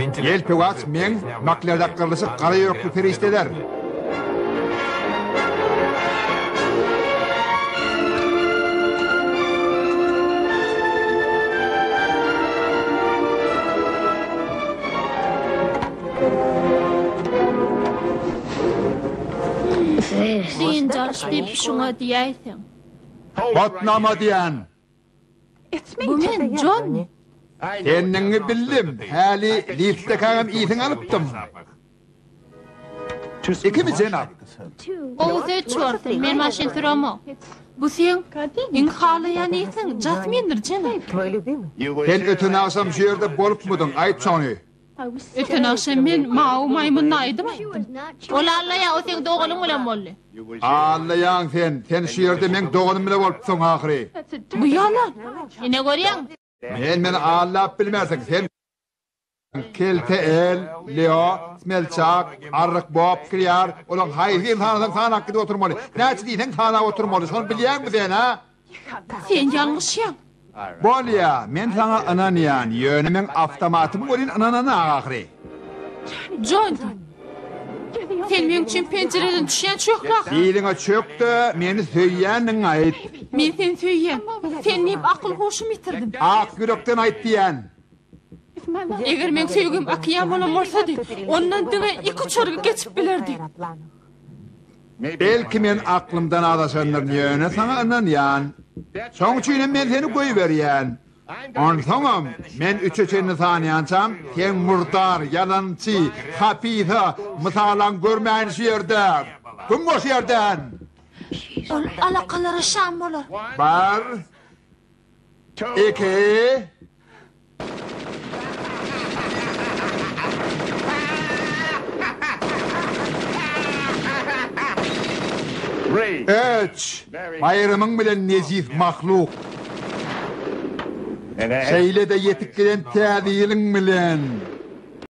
Ýelpewaç meň maklerdak gyrlyşyk gara ýürekli perişdeler. Diýen jaş diýip şuňa diýäýseň. Batnama diýen. Bu men, Jonni. Sendigiňi bildim, häli liftekagam ysyňy alypdym. Ikimi jenap? Ow, seç bolsun, men maşyn süremok. Bu seň iň halaýan ysyň, Jasmindir, jenap? Sen öten agşam şu ýerde bolupmydyň, aýt şony? Öten agşam men Mawy maýmyna aýdym aýtdym. Ol Alla ýa o seň doganyň bilen boldy? Alla ýaň sen, sen şu ýerde meň doganym bilen bolupsyň ahyry. Bu ýalan. Ine görýäň. Men meni aldap bilmersiň, sen kelte el, Leo, smelçak, arryk bop kirýär, olaň haýsyny sanasaň sanap gidip oturmaly, näçe diýseň sanap oturmaly, şony bilýäňmi sen, hä? Sen ýalňyşýaň. Bolýa, men saňa ynanýan, ýöne meň awtomatymy welin ynananyň ahyry. Jony, sen meň üçin penjireden düşýän çökrak. Biliňe çök-de, meni söýýändigiňi aýt. Men seni söýýän. Sen diýip akyl-huşumy ýitirdim. Ak ýürekden aýt diýýän. Eger meň söýgim okean bolan bolsady, ondan diňe iki uçarga geçip bilerdi. Belki men aklymdan azaşandyryn, ýöne saňa ynanýan. Şoň üçinem men seni goýberýän. Onsoňam, men üçe çenli sanýançam, sen murdar, ýalançy, hapysa, mysalam görmäýin şu ýerde! Güm bol şu ýerden! Ol alakalara şam bolar. Bar. Eke. Öç! Baýramyň bilen nejis mahluk! Şeýle-de ýetip gelen Täze ýylyň bilen!